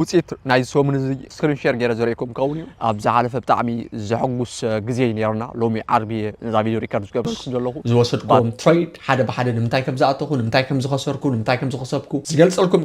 ውፅኢት ናይ ሰሙን እዚ ስክሪን ሼር ገይረ ዘርእኩም ክኸውን እዩ ኣብ ዝሓለፈ ብጣዕሚ ዘሐጉስ ግዜ እዩ ነይሩና ሎሚ ዓርቢ እየ ነዛ ቪድዮ ሪከርድ ዝገበርኩ ዘለኹ ዝወሰድኩም ትሬድ ሓደ ብሓደ ንምንታይ ከም ዝኣተኹ ንምንታይ ከም ዝኸሰርኩ ንምንታይ ከም ዝኸሰብኩ ዝገልፀልኩም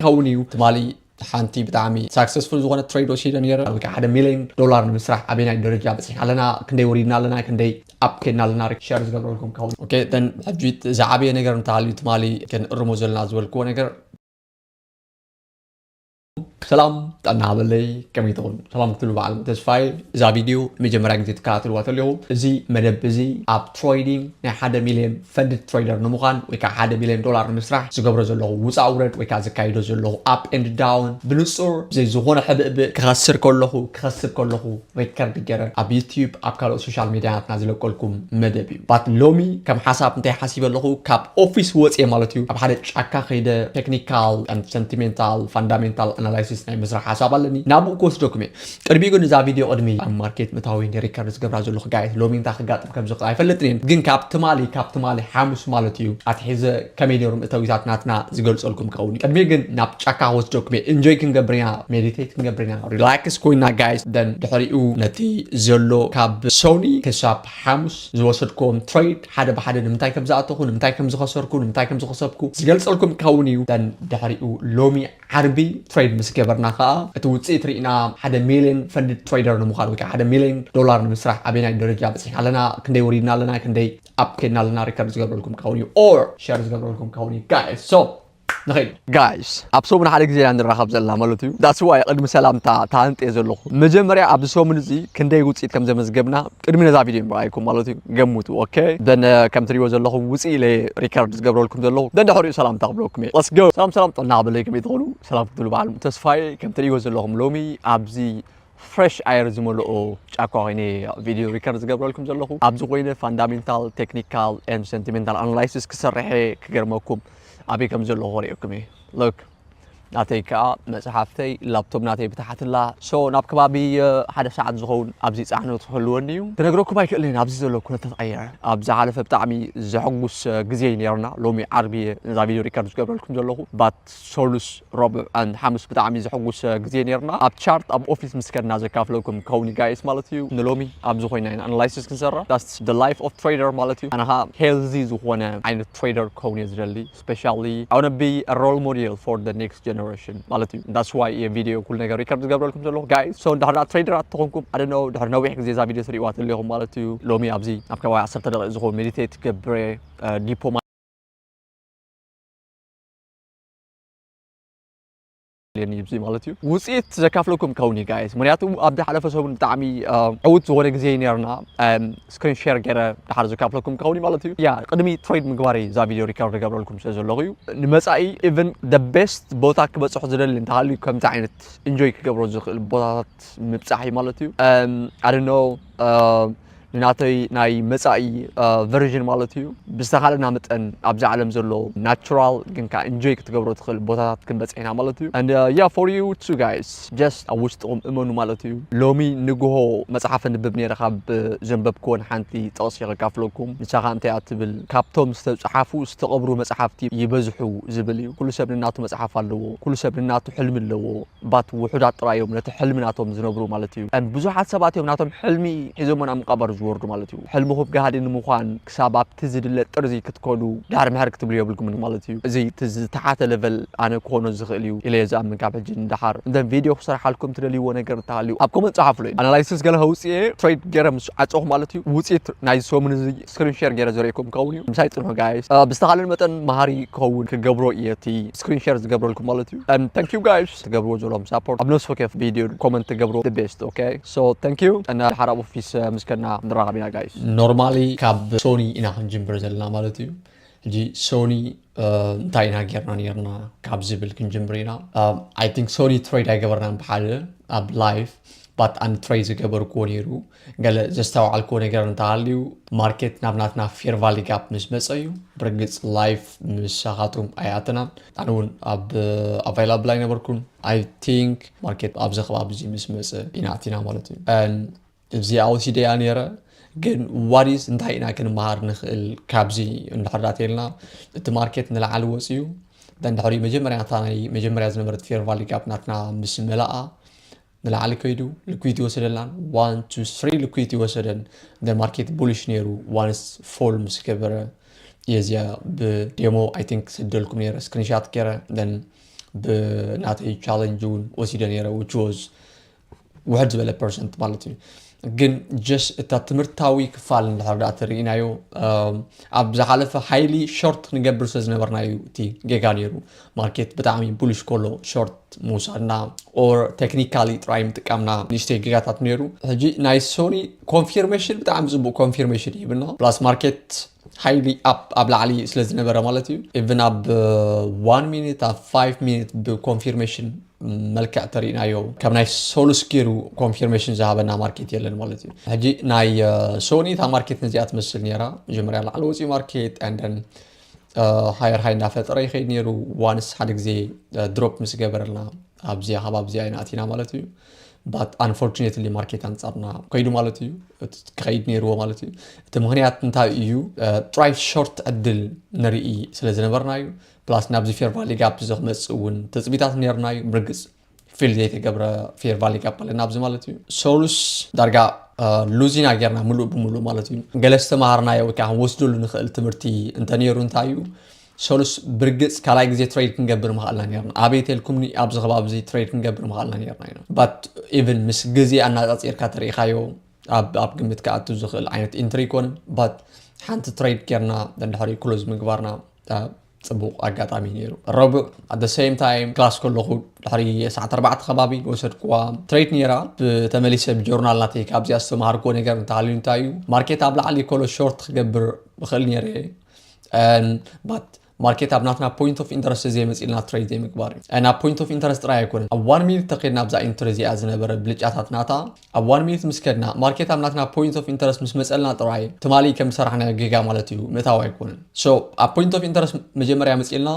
ይኸውን እዩ ትማሊ ሓንቲ ብጣዕሚ ሳክሰስፉል ዝኾነ ትሬድ ወሲደ ነይረ ኣብ ልክዕ ሓደ ሚሊዮን ዶላር ንምስራሕ ኣበናይ ደረጃ በፂሕና ኣለና ክንደይ ወሪድና ኣለና ክንደይ ኣብ ከድና ኣለና ሸር ዝገብረልኩም ከውን ኦኬ ተን ሕጂ ዝዓበየ ነገር እንተሃልዩ ትማሊ ክንእርሞ ዘለና ዝበልክዎ ነገር ሰላም ጠና በለይ ከመይ ትኹን ሰላም ክትሉ በዓል ተስፋይ እዛ ቪድዮ መጀመርያ ግዜ ትከታተልዋ ተለኹ እዚ መደብ እዚ ኣብ ትሬዲንግ ናይ ሓደ ሚልዮን ፈንድድ ትሬደር ንምዃን ወይ ከኣ ሓደ ሚልዮን ዶላር ንምስራሕ ዝገብሮ ዘለኹ ውጻእ ውረድ ወይ ከኣ ዘካይዶ ዘለኹ ኣፕ ኤንድ ዳውን ብንጹር ብዘይ ዝኾነ ሕብእብእ ክኸስር ከለኹ ክኸስብ ከለኹ ሬከርድ ገረ ኣብ ዩትዩብ ኣብ ካልኦት ሶሻል ሜድያታትና ዝለቀልኩም መደብ እዩ ባት ሎሚ ከም ሓሳብ እንታይ ሓሲበ ኣለኹ ካብ ኦፊስ ወጽየ ማለት እዩ ኣብ ሓደ ጫካ ከይደ ቴክኒካል ኣንድ ሰንቲሜንታል ፋንዳሜንታል ኣናላይሲስ ናይ ምስራሕ ሓሳብ ኣለኒ ናብኡ ክወስደኩም እየ ቅድሚኡ ግን እዛ ቪድዮ ቅድሚ ኣብ ማርኬት ምታወይ እየ ሪከርድ ዝገብራ ዘለኹ ጋይስ ሎሚ እንታይ ክጋጥም ከም ዝኽእል ኣይፈልጥን እየ ግን ካብ ትማሊ ካብ ትማሊ ሓሙስ ማለት እዩ ኣትሒዘ ከመይ ነይሮም እተዊታት ናትና ዝገልጸልኩም ክኸውን እዩ ቅድሚኡ ግን ናብ ጫካ ክወስደኩም እየ ኢንጆይ ክንገብር ኢና ሜዲቴት ክንገብር ኢና ሪላክስ ኮይና ጋይስ ደን ድሕሪኡ ነቲ ዘሎ ካብ ሶኒ ክሳብ ሓሙስ ዝወሰድኩም ትሬድ ሓደ ብሓደ ንምንታይ ከም ዝኣተኹ ንምንታይ ከም ዝኸሰርኩ ንምንታይ ከም ዝኸሰብኩ ዝገልጸልኩም ክኸውን እዩ ደን ድሕሪኡ ሎሚ ዓርቢ ትሬድ ምስ ገበርና ከኣ እቲ ውጽኢት ርኢና ሓደ ሚልዮን ፈንድድ ትሬደር ንምዃን ወይከዓ ሓደ ሚልዮን ዶላር ንምስራሕ ኣበየናይ ደረጃ በጺሕና ኣለና ክንደይ ወሪድና ኣለና ክንደይ ኣብ ከድና ኣለና ሪከርድ ዝገብረልኩም ክኸውን እዩ ኦር ሸር ዝገብረልኩም ክኸውን እዩ ጋይስ ሶ ንኸይድ ጋይስ ኣብ ሰሙን ሓደ ግዜ ኢና ንራኸብ ዘለና ማለት እዩ ዳስዋይ ቅድሚ ሰላምታ ተሃንጥየ ዘለኹ መጀመርያ ኣብዚ ሰሙን እዚ ክንደይ ውፅኢት ከም ዘመዝገብና ቅድሚ ነዛ ቪድዮ ምርኣይኩም ማለት እዩ ገምቱ ኦኬ ደን ከም ትሪእዎ ዘለኹም ውፅእ ኢለ ሪከርድ ዝገብረልኩም ዘለኹ ደንድሕሪኡ ሰላምታ ክብለኩም እየ ለስ ጎ ሰላም ሰላም ጥዕና በለይ ከመይ ትኾኑ ሰላም ክትብሉ በዓል ተስፋዬ ከም ትሪእዎ ዘለኹም ሎሚ ኣብዚ ፍሬሽ ኣየር ዝመልኦ ጫካ ኮይነ ቪድዮ ሪከርድ ዝገብረልኩም ዘለኹ ኣብዚ ኮይነ ፋንዳሜንታል ቴክኒካል ን ሰንቲሜንታል ኣናላይሲስ ክሰርሐ ክገርመኩም ኣበይ ከም ዘለኹ ክርእየኩም እየ ሎክ ናተይ ከኣ መጽሓፍተይ ላፕቶፕ ናተይ ብተሓትላ ሶ ናብ ከባቢ ሓደ ሰዓት ዝኸውን ኣብዚ ጻዕነት ክህልወኒ እዩ ክነግረኩም ኣይክእልን ኣብዚ ዘሎ ኩነታት ኣየር ኣብ ዝሓለፈ ብጣዕሚ ዘሐጉስ ግዜ እዩ ነርና ሎሚ ዓርቢ እየ ነዛ ቪድዮ ሪከርድ ዝገብረልኩም ዘለኹ ባት ሰሉስ ረቡዕ ኣን ሓሙስ ብጣዕሚ ዘሐጉስ ግዜ ነርና ኣብ ቻርት ኣብ ኦፊስ ምስ ከድና ዘካፍለኩም ክኸውን እዩ ጋይስ ማለት እዩ ንሎሚ ኣብዚ ኮይና ኢና ኣናላይሲስ ክንሰርሕ ዳስ ደ ላይፍ ኦፍ ትሬደር ማለት እዩ ኣነ ከዓ ሄልዚ ዝኾነ ዓይነት ትሬደር ክኸውን እየ ዝደሊ ስፔሻሊ I wanna be a role model for the next generation ማለት እዩ that's why እየ ቪድዮ ኩሉ ነገር ሪከርድ ዝገብረልኩም ዘለኹ guys so እንድሕር ደኣ ትሬደራት ተኾንኩም I don't know ድሕሪ ነዊሕ ግዜ እዛ ቪድዮ ትሪእዋ ተሊኹም ማለት እዩ ሎሚ ኣብዚ ኣብ ከባቢ ዓሰርተ ደቂቅ ዝኸውን ሜዲቴት ገብረ ዲፖ የድልየኒ እዩ ማለት እዩ ውፅኢት ዘካፍለኩም ከውን እዩ ጋይስ ምክንያቱ ኣብ ዝሓለፈ ሰሙን ብጣዕሚ ዕውት ዝኾነ ግዜ እዩ ነርና ስክሪን ሸር ገይረ ድሓር ዘካፍለኩም ከውን እዩ ማለት እዩ ያ ቅድሚ ትሬድ ምግባር እዩ እዛ ቪድዮ ሪካርድ ዝገብረልኩም ስለ ዘለኹ እዩ ንመፃኢ ኢቨን ደ ቤስት ቦታ ክበፅሑ ዝደሊ እንተሃልዩ ከምዚ ዓይነት ኢንጆይ ክገብሮ ዝኽእል ቦታታት ምብፃሕ እዩ ማለት እዩ ኣደኖ ንናተይ ናይ መጻኢ ቨርዥን ማለት እዩ ብዝተኻለና መጠን ኣብዚ ዓለም ዘሎ ናቹራል ግን ከዓ ኢንጆይ ክትገብሮ ትኽእል ቦታታት ክንበፅሕ ኢና ማለት እዩ ያ ፎር ዩ ቱ ጋይስ ጀስት ኣብ ውሽጥኹም እመኑ ማለት እዩ ሎሚ ንግሆ መፅሓፍ ንብብ ነይረ ካብ ዘንበብክወን ሓንቲ ጥቕሲ ከካፍለኩም ንሳ ከዓ እንታይ እያ ትብል ካብቶም ዝተፅሓፉ ዝተቐብሩ መፅሓፍቲ ይበዝሑ ዝብል እዩ ኩሉ ሰብ ንናቱ መፅሓፍ ኣለዎ ኩሉ ሰብ ንናቱ ሕልሚ ኣለዎ ባት ውሑዳት ጥራይ እዮም ነቲ ሕልሚ ናቶም ዝነብሩ ማለት እዩ and ብዙሓት ሰባት እዮም ናቶም ሕልሚ ሒዞሞ ናብ ምቃበር ዝወርዱ ማለት እዩ ሕልምኹብ ጋህዲ ንምዃን ክሳብ ኣብቲ ዝድለ ጥርዚ ክትከዱ ዳር ምሕር ክትብሉ የብልኩምን ማለት እዩ እዚ እቲ ዝተሓተ level ኣነ ክኾኖ ዝኽእል እዩ ኢለ እየ ዝኣምን ካብ ሕጂ ንዳሓር and then video ክሰርሓልኩም ትደልይዎ ነገር እንተሃልዩ ኣብ comment ጸሓፉለይ analysis ገለ ከውጽእ እየ trade ጌረ ምስ ዓጸኹ ማለት እዩ ውጺኢት ናይዚ ሰሙን እዚ ስክሪን ሸር ገይረ ዘርእየኩም ክኸውን እዩ ምሳይ ጽንሑ ጋይስ ብዝተኻለን መጠን መሃሪ ክኸውን ክገብሮ እየ እቲ ስክሪን ሸር ዝገብረልኩም ማለት እዩ and thank you guys ትገብርዎ ዘለኹም ሳፖርት ኣብ ነፍሲ ወከፍ ቪድዮ ኮመንት ትገብርዎ the best okay so thank you and ሓራ ኣብ ኦፊስ ምስ ከድና ንራኸብ ኢና ጋይስ ኖርማሊ ካብ ሶኒ ኢና ክንጅምር ዘለና ማለት እዩ ሕጂ ሶኒ እንታይ ኢና ጌርና ነርና ካብ ዝብል ክንጅምር ኢና ኣይ ቲንክ ሶኒ ትሬድ ኣይገበርናን ብሓደ ኣብ ላይፍ ባት ኣን ትሬድ ዝገበርክዎ ነይሩ ገለ ዘስተውዓልክዎ ነገር እንተሃልዩ ማርኬት ናብ ናትና ፌር ቫሊ ጋፕ ምስ መፀ እዩ ብርግፅ ላይፍ ምሳኻቱም ኣይኣተናን ኣነ እውን ኣብ ኣቫይላብል ኣይነበርኩን ኣይ ቲንክ ማርኬት ኣብዚ ከባቢ እዚ ምስ መፀ ኢና ኣቲና ማለት እዩ እዚኣ ወሲደ እያ ነይረ ግን ዋዲስ እንታይ ኢና ክንመሃር ንኽእል ካብዚ እንድሕር ዳተልና እቲ ማርኬት ንላዓሊ ወፅዩ እንድሕሪ መጀመርያ እታ ናይ መጀመርያ ዝነበረት ፌር ቫሊ ጋፕ ናትና ምስ መለኣ ንላዕሊ ከይዱ ልኩይቲ ወሰደላን ዋን ቱ ስሪ ልኩይቲ ወሰደን ደ ማርኬት ቡሊሽ ነይሩ ዋንስ ፎል ምስ ገበረ የዚያ ብዴሞ ኣይ ቲንክ ሰደልኩም ነይረ ስክሪንሻት ገይረ ደን ብናተይ ቻለንጅ እውን ወሲደ ነይረ ዊች ወዝ ውሕድ ዝበለ ፐርሰንት ማለት እዩ ግን ጀስ እታ ትምህርታዊ ክፋል እንድሕር ዳኣ ተሪኢናዮ ኣብ ዝሓለፈ ሓይሊ ሾርት ንገብር ስለ ዝነበርና እዩ እቲ ጌጋ ነይሩ ማርኬት ብጣዕሚ ቡሊሽ ኮሎ ሾርት ምውሳድና ኦር ቴክኒካሊ ጥራይ ምጥቃምና ንእሽተይ ጌጋታት ነይሩ ሕጂ ናይ ሶኒ ኮንፊርሜሽን ብጣዕሚ ፅቡቅ ኮንፊርሜሽን ይብና ፕላስ ማርኬት ሓይሊ ኣብ ኣብ ላዕሊ ስለ ዝነበረ ማለት እዩ ኢቭን ኣብ ዋን ሚኒት ኣብ ፋይቭ ሚኒት ብኮንፊርሜሽን መልክዕ ተሪእናዮ ካብ ናይ ሰሉስ ገይሩ ኮንፊርሜሽን ዝሃበና ማርኬት የለን ማለት እዩ ሕጂ ናይ ሶኒ እታ ማርኬት ነዚኣ ትመስል ነራ መጀመርያ ላዕሊ ወፂኡ ማርኬት ንደን ሃየር ሃይ እናፈጠረ ይኸይድ ነይሩ ዋንስ ሓደ ግዜ ድሮፕ ምስ ገበረልና ኣብዚኣ ካብ ኣብዚኣ ይናእቲና ማለት እዩ ባት ኣንፎርቹኔትሊ ማርኬት ኣንጻርና ከይዱ ማለት እዩ ክኸይድ ነይርዎ ማለት እዩ እቲ ምክንያት እንታይ እዩ ጥራይ ሾርት ዕድል ንርኢ ስለ ዝነበርና እዩ ፕላስ ናብዚ ፌርቫ ሊጋፕ ዝክመፅእ እውን ትፅቢታት ነይሩና እዩ ብርግፅ ፊል ዘይተገብረ ፌርቫ ሊጋፕ ኣለና ኣብዚ ማለት እዩ ሰሉስ ዳርጋ ሉዚና ጌርና ምሉእ ብምሉእ ማለት እዩ ገለ ዝተምሃርናዮ ወይ ከዓ ክንወስደሉ ንኽእል ትምህርቲ እንተነይሩ እንታይ እዩ ሰሉስ ብርግፅ ካልኣይ ግዜ ትሬድ ክንገብር ምኽኣልና ነርና ኣበይ ቴልኩምኒ ኣብዚ ከባቢ እዚ ትሬድ ክንገብር ምኽኣልና ነርና ኢና ባት ኢቨን ምስ ግዜ ኣናፃፂርካ ተሪኢኻዮ ኣብ ግምት ክኣቱ ዝኽእል ዓይነት ኢንትሪ ይኮነ ባት ሓንቲ ትሬድ ጌርና ደንድሕሪ ክሎዝ ምግባርና ጽቡቕ ኣጋጣሚ ነይሩ ረቡዕ at the same time ክላስ ከለኹ ድሕሪ ሰዓት ኣርባዕተ ከባቢ ዝወሰድኩዋ ትሬድ ነይራ ብተመሊሰ ብጆርናል ናተይ ካብዚኣ ዝተምሃርኩዎ ነገር እንተሃልዩ እንታይ እዩ ማርኬት ኣብ ላዕሊ ኮሎ ሾርት ክገብር ብኽእል ነይረ ባት ማርኬት ኣብ ናትና ፖይንት ኦፍ ኢንተረስት ዘይመፅልና ትሬድ ዘይምግባር እዩ ናብ ፖይንት ኦፍ ኢንተረስት ጥራይ ኣይኮነን ኣብ ዋን ሚኒት ተኸድና ኣብዛ ኢንትሪ እዚኣ ዝነበረ ብልጫታት ናታ ኣብ ዋን ሚኒት ምስ ከድና ማርኬት ኣብ ናትና ፖይንት ኦፍ ኢንተረስት ምስ መጸልና ጥራይ ትማሊ ከም ዝሰራሕናዮ ጌጋ ማለት እዩ ምእታው ኣይኮነን ሶ ኣብ ፖይንት ኦፍ ኢንተረስት መጀመርያ መጺእልና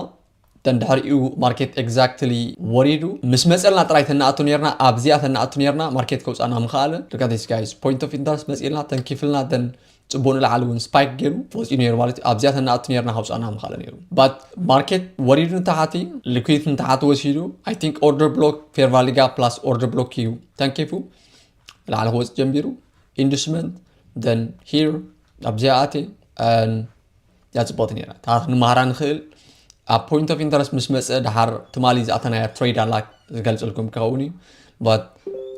ደን ድሕሪኡ ማርኬት ኤግዛክትሊ ወሪዱ ምስ መጸልና ጥራይ ተናኣቱ ነርና ኣብዚኣ ተናኣቱ ነርና ማርኬት ከውጻና ምኸኣለ ሉክ ኣት ዚስ ጋይስ ፖይንት ኦፍ ኢንተረስት መጺእልና ተንኪፍልና ደን ፅቡቅ ንላዕሊ እውን ስፓይክ ገይሩ ወፂኡ ነይሩ ማለት እዩ ኣብዚኣ ተናእቱ ነርና ከውፃና ምካለ ነይሩ ባት ማርኬት ወሪዱ ንታሓቲ ሊኩዊት ንታሓቲ ወሲዱ ኣይ ቲንክ ኦርደር ብሎክ ፌርቫሊጋ ፕላስ ኦርደር ብሎክ እዩ ተንኪፉ ንላዕሊ ክወፅእ ጀንቢሩ ኢንዱስመንት ደን ሂር ኣብዚኣ ኣቴ እያ ፅብቕቲ ነይራ ታሪክ ንመሃራ ንኽእል ኣብ ፖይንት ኦፍ ኢንተረስት ምስ መፀ ድሓር ትማሊ ዝኣተናያ ትሬድ ኣላ ዝገልፅልኩም ክኸውን እዩ ባት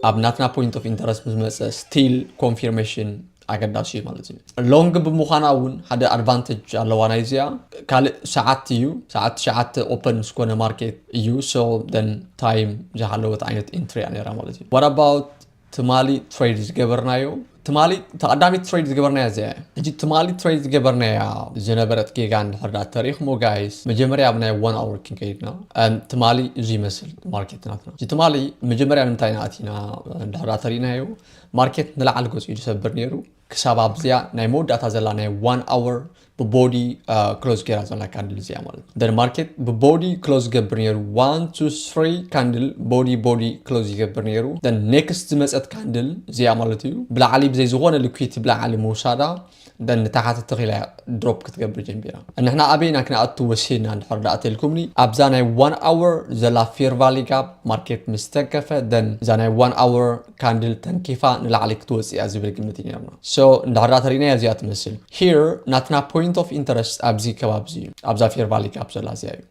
ኣብ ናትና ፖይንት ኦፍ ኢንተረስት ምስ መፀ ስቲል ኮንፊርሜሽን ኣገዳሲ እዩ ማለት እዩ ሎንግ ብምዃና እውን ሓደ ኣድቫንቴጅ ኣለዋ ናይ እዚኣ ካልእ ሰዓት እዩ ሰዓት ትሽዓተ ኦፐን ዝኾነ ማርኬት እዩ ሶ ደን ታይም ዝሃለወት ዓይነት ኢንትሪ እያ ነራ ማለት እዩ ዋት ኣባውት ትማሊ ትሬድ ዝገበርናዮ ትማሊ እታ ቀዳመይቲ ትሬድ ዝገበርናያ እዚኣ እያ ሕጂ ትማሊ ትሬድ ዝገበርናያ ዝነበረት ጌጋ እንድሕር ዳ ተሪኽሞ ጋይስ መጀመርያ ኣብ ናይ ዋን ኣወር ክንከይድና ትማሊ እዚ ይመስል ማርኬት ናትና ሕጂ ትማሊ መጀመርያ ንምንታይ ኢና ኣቲና እንድሕር ዳ ተሪእናዮ ማርኬት ንላዕሊ ገጹ እዩ ዝሰብር ነይሩ ክሳብ ኣብዚኣ ናይ መወዳእታ ዘላ ናይ ዋን ኣወር ብቦዲ ክሎዝ ገይራ ዘላ ካንድል እዚኣ ማለት እዩ ደን ማርኬት ብቦዲ ክሎዝ ይገብር ነይሩ ዋን ቱ ስሪ ካንድል ቦዲ ቦዲ ክሎዝ ይገብር ነይሩ ደን ኔክስት ዝመፀት ካንድል እዚኣ ማለት እዩ ብላዕሊ ብዘይ ዝኾነ ልኩዊቲ ብላዕሊ ምውሳዳ ደን ንታሕቲ ተኺላ እያ ድሮፕ ክትገብር ጀሚራ ንሕና ኣበይና ክንኣቱ ወሲድና እንድሕር ዳኣ ተልኩምኒ ኣብዛ ናይ ዋን ኣወር ዘላ ፌር ቫሊ ጋፕ ማርኬት ምስ ተንከፈ ደን እዛ ናይ ዋን ኣወር ካንድል ተንኪፋ ንላዕሊ ክትወጽእ እያ ዝብል ግምት እዩ ነይርና so እንድሕር ተሪእናያ እዚኣ ትመስል here ናትና point of interest ኣብዚ ከባቢ እዚ እዩ ኣብዛ fair valley gap ዘላ እዚኣ እዩ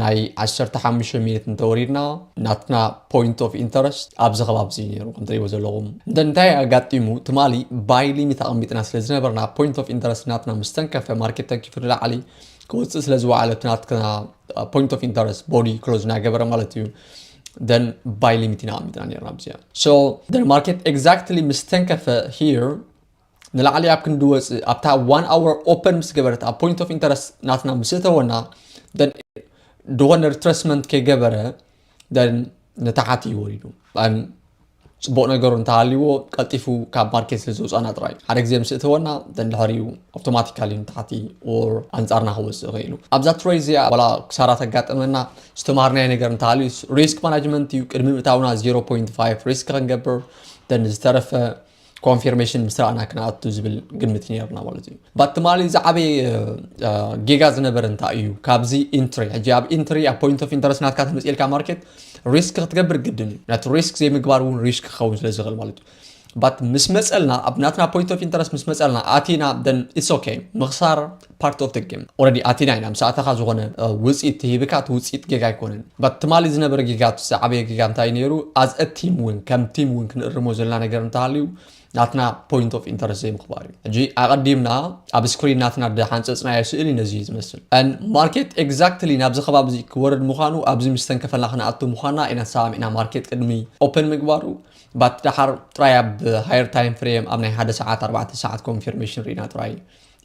ናይ 15 ሚኒት እንተወሪድና ናትና ፖይንት ኦፍ ኢንተረስት ኣብዚ ከባቢ እዚ ነይሩ ከም ትሪእዎ ዘለኹም እንተ እንታይ ኣጋጢሙ ትማሊ ባይ ሊሚት ኣቐሚጥና ስለ ዝነበርና ፖይንት ኦፍ ኢንተረስት ናትና ምስ ተንከፈ ማርኬት ተንኪፉ ንላዕሊ ክወፅእ ስለ ዝወዓለ እቲ ናትና ፖይንት ኦፍ ኢንተረስት ቦዲ ክሎዝ ናገበረ ማለት እዩ ደን ባይ ሊሚት ኢና ኣሚትና ነርና ብዚኣ ሶ ደን ማርኬት ኤግዛክትሊ ምስ ተንከፈ ሂር ንላዕሊ ኣብ ክንዲ ወፅእ ኣብታ ዋን ኣወር ኦፐን ምስ ገበረት ኣብ ፖይንት ኦፍ ኢንተረስት ናትና ምስ እተወና ደን ድኾነ ሪትረስመንት ከይገበረ ንታሓት እዩ ወሪዱ ፅቡቅ ነገሩ እንተሃልይዎ ቀልጢፉ ካብ ማርኬት ስለ ዝውፃና ጥራይ ሓደ ግዜ ምስ እተወና ድሕሪኡ ኣውቶማቲካሊ ንታሕቲ ኦር ኣንፃርና ክወፅእ ይኽእሉ ኣብዛ ትሬድ እዚኣ ዋላ ክሳራ ተጋጠመና ዝተማሃርናዮ ነገር እንተሃልዩ ሪስክ ማናጅመንት እዩ ቅድሚ ምእታውና 0.5 ሪስክ ክንገብር ደን ዝተረፈ ኮንፊርሜሽን ምስ ረኣና ክንኣቱ ዝብል ግምት እዩ ነርና ማለት እዩ ባት ትማሊ ዝዓበየ ጌጋ ዝነበረ እንታይ እዩ ካብዚ ኢንትሪ ሕጂ ኣብ ኢንትሪ ኣብ ፖይንት ኦፍ ኢንተረስት ናትካ ተመፅኤልካ ማርኬት ሪስክ ክትገብር ግድን እዩ ነቲ ሪስክ ዘይምግባር እውን ሪስክ ክኸውን ስለ ዝኽእል ማለት እዩ ባት ምስ መፀልና ኣብ ናትና ፖይንት ኦፍ ኢንተረስት ምስ መፀልና ኣቲና ደን ኢትስ ኦኬ ምኽሳር Part of the game already ኣቲና ኢና ምስ ኣተኻ ዝኾነ ውጺኢት ተሂብካ እቲ ውጺኢት ጌጋ ኣይኮነን but ትማሊ ዝነበረ ጌጋ እቲ ዝዓበየ ጌጋ እንታይ ነይሩ as a team ውን ከም ቲም ውን ክንእርሞ ዘለና ነገር እንተሃልዩ ናትና ፖይንት ኦፍ ኢንተረስት ዘይምኽባር እዩ ሕጂ ኣቐዲምና ኣብ ስክሪን ናትና ድሓንፀፅናዮ ስእሊ ነዚ እዩ ዝመስል ን ማርኬት ኤግዛክትሊ ናብዚ ከባቢ እዚ ክወርድ ምዃኑ ኣብዚ ምስ ተንከፈልና ክንኣቱ ምዃንና ኢና ተሰማሚዕና ማርኬት ቅድሚ ኦፕን ምግባሩ ባት ድሓር ጥራይ ኣብ ሃየር ታይም ፍሬም ኣብ ናይ ሓደ ሰዓት ኣርባዕተ ሰዓት ኮንፊርሜሽን ርኢና ጥራይ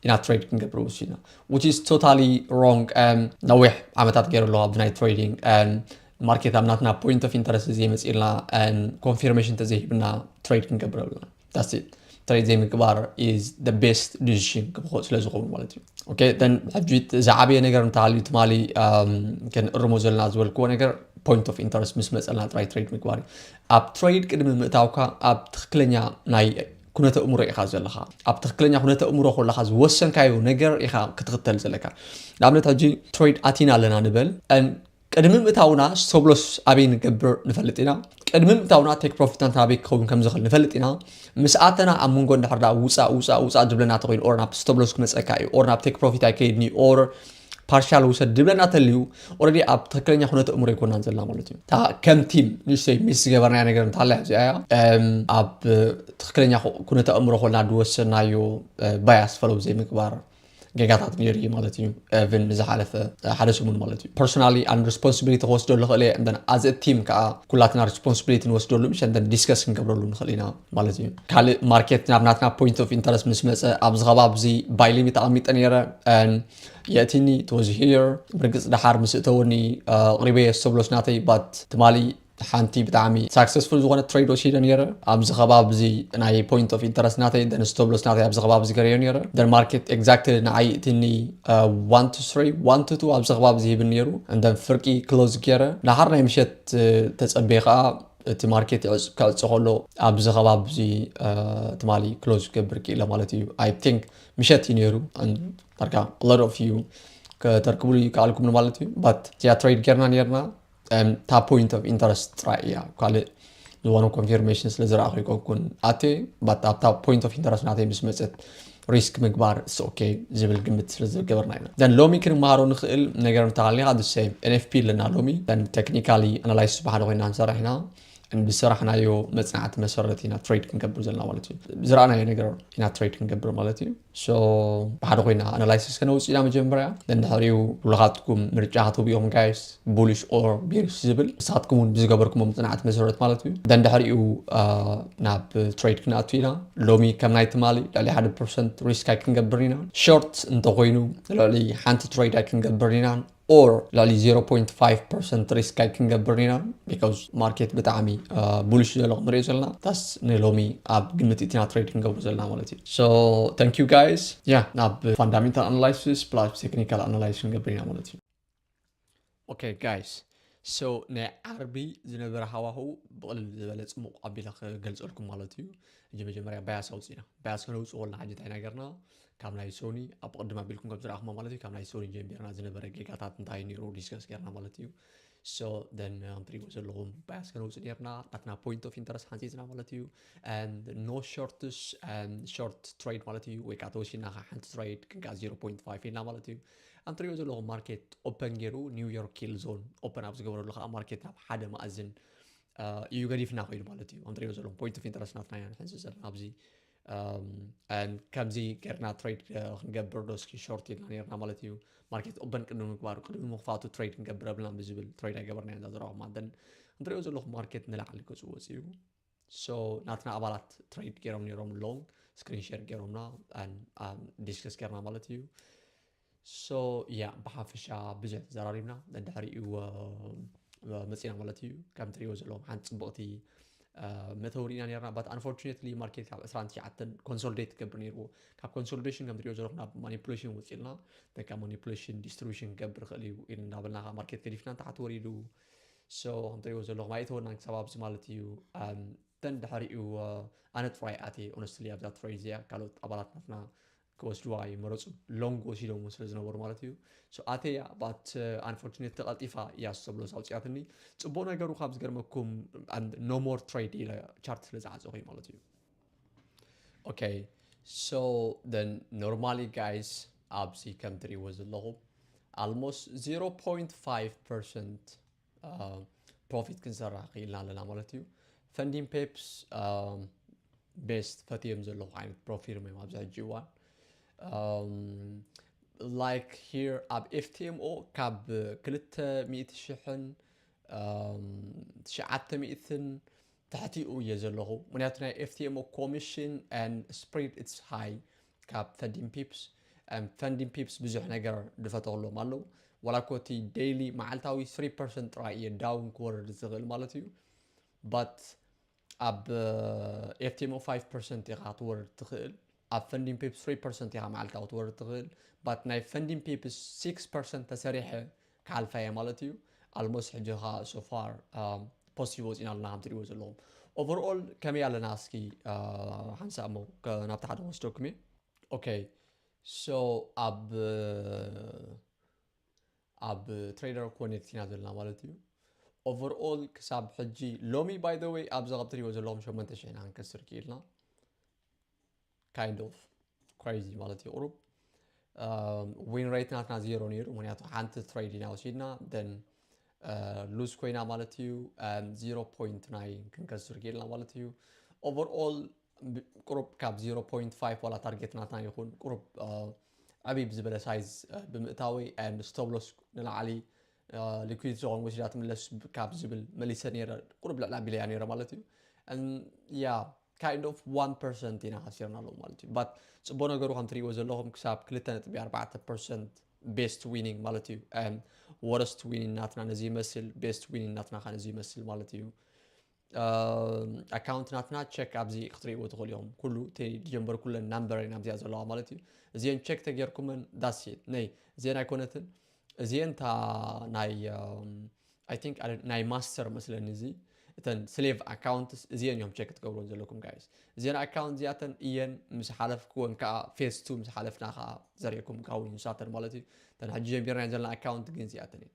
ኢና ትሬድ ክንገብር ወሲድና ዊች ኢዝ ቶታሊ ሮንግ ነዊሕ ዓመታት ገይሩ ኣለዋ ብናይ ትሬዲንግ ማርኬት ኣብ ናትና ፖይንት ኦፍ ኢንተረስት ዘይመፅልና ኮንፊርሜሽን ተዘይሂብና ትሬድ ክንገብር ኣለና ዳስ ትሬድ ዘይምግባር ኢዝ ደ ቤስት ዲሲሽን ክብኮ ስለ ዝኸውን ማለት እዩ ኦኬ ን ሕጂ ዝዓበየ ነገር እንተሃልዩ ትማሊ ክንእርሞ ዘለና ዝበልክዎ ነገር ፖይንት ኦፍ ኢንተረስት ምስ መፀልና ጥራይ ትሬድ ምግባር እዩ ኣብ ትሬድ ቅድሚ ምእታውካ ኣብ ትክክለኛ ናይ ኩነተ እእምሮ ኢኻ ዘለኻ ኣብ ትክክለኛ ኩነተ እእምሮ ኮለኻ ዝወሰንካዮ ነገር ኢኻ ክትኽተል ዘለካ ንኣብነት ሕጂ ትሬድ ኣቲና ኣለና ንበል ቅድሚ ምእታውና ሶብሎስ ኣበይ ንገብር ንፈልጥ ኢና ቅድሚ ምእታውና ቴክ ፕሮፊትና ኣበይ ክኸውን ከም ዝኽእል ንፈልጥ ኢና ምስ ኣተና ኣብ መንጎ እንድሕር ውፃእ ውፃእ ውፃእ ዝብለና ተኮይኑ ኦር ናብ ስተብሎስ ክመፀካ እዩ ኦር ናብ ቴክ ፕሮፊት ኣይከይድኒ ኦር ፓርሻል ውሰድ ድብለና ተልዩ ኦረዲ ኣብ ትክክለኛ ኩነት እምሮ ይኮናን ዘላ ማለት እዩ እታ ከም ቲም ንእሽተይ ሚስ ዝገበርናያ ነገር እንታላ እዚኣ እያ ኣብ ትክክለኛ ኩነት እምሮ ኮና ድወሰናዮ ባያስ ፈለው ዘይምግባር ጌጋታት ነይሩ እዩ ማለት እዩ ብን ንዝሓለፈ ሓደ ሰሙን ማለት እዩ ፐርሶናሊ ኣን ሪስፖንሲቢሊቲ ክወስደሉ ክእል እየ እን ኣዝ ቲም ከዓ ኩላትና ሪስፖንሲቢሊቲ ንወስደሉ ምሸ ዲስከስ ክንገብረሉ ንክእል ኢና ማለት እዩ ካልእ ማርኬት ናብ ናትና ፖይንት ኦፍ ኢንተረስት ምስ መፀ ኣብዚ ከባቢ እዚ ባይ ሊሚት ኣቐሚጠ ነይረ የእቲኒ ተወዚ ሂር ብርግፅ ድሓር ምስ እተወኒ ኣቕሪበ የስተብሎስ ናተይ ባት ትማሊ ሓንቲ ብጣዕሚ ሳክሰስፉል ዝኾነ ትሬድ ወሲደ ነይረ ኣብዚ ከባቢ እዚ ናይ ፖይንት ኦፍ ኢንተረስት ናተይ ደን ስተብሎስ ናተይ ኣብዚ ከባቢ እዚ ገረዮ ነይረ ደን ማርኬት ኤግዛክትሊ ንዓይ እትኒ ዋን ቱ ስሪ ዋን ቱ ቱ ኣብዚ ከባቢ እዚ ሂብን ነይሩ እንደን ፍርቂ ክሎዝ ገይረ ድሓር ናይ ምሸት ተፀበየ ከዓ እቲ ማርኬት ክዕጾ ከሎ ኣብዚ ከባቢ እዚ ትማሊ ክሎዝ ክገብር ክኢለ ማለት እዩ ኣይ ቲንክ ምሸት እዩ ነይሩ ዳርጋ ሎት ኦፍ ዩ ከተርክብሉ ይከኣልኩም ማለት እዩ ባት እዚኣ ትሬድ ጌርና ነርና እታ ፖይንት ኦፍ ኢንተረስት ጥራይ እያ ካልእ ዝኾነ ኮንፊርሜሽን ስለ ዝረኣኹ ይኮንኩን ኣቴ ባት ኣብታ ፖይንት ኦፍ ኢንተረስት ናተይ ምስ መፀት ሪስክ ምግባር እስ ኦኬ ዝብል ግምት ስለ ዝገበርና ኢና ዘን ሎሚ ክንመሃሮ ንኽእል ነገር እንተሃሊኻ ድሰ ኤንኤፍፒ ኣለና ሎሚ ዘን ቴክኒካሊ ኣናላይስ ዝበሓደ ኮይና ንሰርሕ ኢና ብሰራሕናዮ መፅናዕቲ መሰረት ኢና ትሬድ ክንገብር ዘለና ማለት እዩ ዝረኣናዮ ነገር ኢና ትሬድ ክንገብር ማለት እዩ ሶ ብሓደ ኮይና ኣናላይሲስ ከነውፅእ ኢና መጀመርያ ደንድሕሪኡ ብሉኻትኩም ምርጫ ክትህቡ ኢኹም ጋይስ ቡሊሽ ኦር ቤሪሽ ዝብል ንሳትኩም እውን ብዝገበርኩሞ ምፅናዕቲ መሰረት ማለት እዩ ደንድሕሪኡ ናብ ትሬድ ክንኣቱ ኢና ሎሚ ከም ናይ ትማሊ ልዕሊ ሓደ ፐርሰንት ሪስክ ኣይክንገብር ኢና ሾርት እንተኮይኑ ልዕሊ ሓንቲ ትሬድ ኣይክንገብር ኢና ኦር ልዕሊ 0.5 ፐርሰንት ሪስክ ኣይክንገብር ኢና ቢካዝ ማርኬት ብጣዕሚ ቡሊሽ ዘሎ ክንሪኦ ዘለና ታስ ንሎሚ ኣብ ግምት እትና ትሬድ ክንገብሩ ዘለና ማለት እዩ ሶ ታንክ ዩ ጋይስ ያ ናብ ፋንዳሜንታል ኣናላይሲስ ፕላስ ቴክኒካል ኣናላይሲስ ክንገብር ኢና ማለት እዩ ኦኬ ጋይስ ሶ ናይ ዓርቢ ዝነበረ ሃዋህው ብቕልል ዝበለ ፅሙቕ ኣቢለ ክገልፀልኩም ማለት እዩ እጂ መጀመርያ ባያስ ኣውፅኢና ባያስ ከነውፅእ ወልና ሕጂ እንታይ ነገርና ካብ ናይ ሶኒ ኣብ ቅድም ኣቢልኩም ከም ዝረኣኹሞ ማለት እዩ ካብ ናይ ሶኒ ጀምቢርና ዝነበረ ጌጋታት እንታይ ነይሩ ዲስከስ ገርና ማለት እዩ ሶ ደን ንትሪእዎ ዘለኹም ባያስ ከነውፅ ነርና ናትና ፖይንት ኦፍ ኢንተረስት ሓንፂፅና ማለት እዩ ኖ ሾርትስ ሾርት ትሬድ ማለት እዩ ወይ ከዓ ተወሲና ሓንቲ ትሬድ ክንከዓ 0.5 ኢልና ማለት እዩ ኣም ትሪኦ ዘለኹም ማርኬት ኦፐን ገይሩ ኒው ዮርክ ኪል ዞን ኦፐን ኣብ ዝገበረሉ ከዓ ማርኬት ናብ ሓደ መኣዝን እዩ ገዲፍና ኮይኑ ማለት እዩ ኣንትሪኦ ዘለኹም ፖይንት ኦፍ ኢንተረስት ናትና ኢና ንሕንዚ ዘለና ኣብዚ ከምዚ ገርና ትሬድ ክንገብር ዶ እስኪ ሾርት ኢልና ነርና ማለት እዩ ማርኬት ኦበን ቅድሚ ምግባሩ ቅድሚ ምኽፋቱ ትሬድ ክንገብር ኣብልና ብዝብል ትሬድ ኣይገበርና ኢና ዘረኹማ ን እንትሪኦ ዘለኹም ማርኬት ንላዕሊ ገፁ ወፂኡ so ናትና ኣባላት ትሬድ ገይሮም ነይሮም ሎን ስክሪን ሼር ገይሮምና ዲስከስ ገርና ማለት እዩ ሶ ያ ብሓፈሻ ብዙሕ ተዘራሪብና ድሕሪኡ መፂና ማለት እዩ ከም ትሪእዎ ዘለዎም ሓንቲ ፅብቕቲ መተው ርኢና ነርና ባት ኣንፎርቹነትሊ ማርኬት ካብ 29 ኮንሶሊዴት ትገብር ነይርዎ ካብ ኮንሶሊዴሽን ከም ትሪኦ ዘለኹ ናብ ማኒፕሌሽን ወፂልና ደካ ማኒፕሌሽን ዲስትሪቢሽን ክገብር ይኽእል እዩ ኢል እናበልና ማርኬት ገዲፍና ንታሕቲ ወሪዱ ሶ ከምትሪእዎ ዘለኹም ኣይእተወናን ክሳብ ኣብዚ ማለት እዩ ተን ድሕሪኡ ኣነ ጥራይ ኣትየ ኦነስትሊ ኣብዛ ትሬድ እዚኣ ካልኦት ኣባላት ናትና ክወስድዋ ይመረፁ ሎንግ ወሲዶም እውን ስለ ዝነበሩ ማለት እዩ ኣተያ ባት ኣንፎርቹኔት ተቐልጢፋ እያ ሰብሎስ ኣውፅያትኒ ፅቡቅ ነገሩ ካብ ዝገርመኩም ኖሞር ትሬድ ኢለ ቻርት ስለ ዝዓፀኹ ማለት እዩ ኦከ ሶ ዘን ኖርማሊ ጋይስ ኣብዚ ከም ትሪእዎ ዘለኹም ኣልሞስት 0.5 ፐርሰንት ፕሮፊት ክንሰራሕ ክኢልና ኣለና ማለት እዩ ፈንዲን ፔፕስ ቤስት ፈትዮም ዘለኹ ዓይነት ፕሮፊርም እዮም ኣብዚ ሕጂ እዋን ላይክ ሂር ኣብ ኤፍቲኤምኦ ካብ ክልተ ሚእቲ ሽሕን ትሽዓተ ሚእትን ትሕቲኡ እየ ዘለኹ ምክንያቱ ናይ ኤፍቲኤምኦ ኮሚሽን and spread its high ካብ ፈንዲን ፒፕስ and ፈንዲን ፒፕስ ብዙሕ ነገር ድፈተኹሎም ኣለዉ ዋላ እኮ እቲ ዴይሊ መዓልታዊ 3 ፐርሰንት ጥራይ እየ ዳውን ክወርድ ዝኽእል ማለት እዩ but ኣብ ኤፍቲኤምኦ 5 ፐርሰንት ኢኻ ትወርድ ትኽእል ኣብ ፈንዲን ፔፕስ ትሪ ፐርሰንት ኢኻ መዓልታዊ ክትወርድ ትኽእል ባት ናይ ፈንዲን ፔፕስ ሲክስ ፐርሰንት ተሰሪሐ ክሓልፋ እየ ማለት እዩ ኣልሞስት ሕጂ ኸኣ ሶፋር ፖስቲቭ ወፂና ኣለና ከም ትሪእዎ ዘለኹም ኦቨርኦል ከመይ ኣለና እስኪ ሓንሳእ እሞ ናብቲ ሓደ ወስደኩም እየ ኦኬ ሶ ኣብ ኣብ ትሬደር ኮኔክት ኢና ዘለና ማለት እዩ ኦቨርኦል ክሳብ ሕጂ ሎሚ ባይ ዘ ወይ ኣብዚ ካብ ትሪእዎ ዘለኹም ሸሞንተ ሽሕ ኢና ክንከስር ክኢልና ካይንድ ኦፍ ክሬዚ ማለት እዩ ቁሩብ ዊን ሬት ናትና ዜሮ ነይሩ ምክንያቱ ሓንቲ ትሬድ ኢና ወሲድና ደን ሉዝ ኮይና ማለት እዩ ዜሮ ፖይንት ናይ ክንከስር ጌልና ማለት እዩ ኦቨርኦል ቁሩብ ካብ 0.5 ዋላ ታርጌት ናትና ይኹን ቁሩብ ዓብይ ብዝበለ ሳይዝ ብምእታወይ ን ስቶብሎስ ንላዕሊ ሊኩዊድ ዝኾን ወሲዳ ትምለስ ካብ ዝብል መሊሰ ነይረ ቁሩብ ልዕሊ ኣቢለያ ነይረ ማለት እዩ ያ ካይንድ ኦፍ ዋን ፐርሰንት ኢና ሃሲርና ኣለዎ ማለት እዩ ባት ፅቡቅ ነገሩ ከም ትሪእዎ ዘለኹም ክሳብ ክልተ ነጥቢ ኣርባዕተ ፐርሰንት ቤስት ዊኒንግ ማለት እዩ ወረስት ዊኒንግ ናትና ነዚ ይመስል ቤስት ዊኒንግ ናትና ከ ነዚ ይመስል ማለት እዩ ኣካውንት ናትና ቸክ ኣብዚ ክትሪእዎ ትኽእሉ ኢኹም ኩሉ እቲ ዝጀንበርኩለን ናምበር ኢና ኣብዚኣ ዘለዋ ማለት እዩ እዚአን ቸክ ተጌርኩመን ዳሴት ነይ እዚአን ኣይኮነትን እዚአን እታ ናይ ኣይ ቲንክ ናይ ማስተር መስለኒ እዚ እተን ስሌቭ ኣካውንትስ እዚአን እዮም ቸክ ትገብሩን ዘለኩም ጋይስ እዚአን ኣካውንት እዚኣተን እየን ምስ ሓለፍክወን ከዓ ፌስ ቱ ምስ ሓለፍና ከዓ ዘርእኩም ጋውን ንሳተን ማለት እዩ እተን ሕጂ ጀሚርና ዘለና ኣካውንት ግን እዚኣተን እየን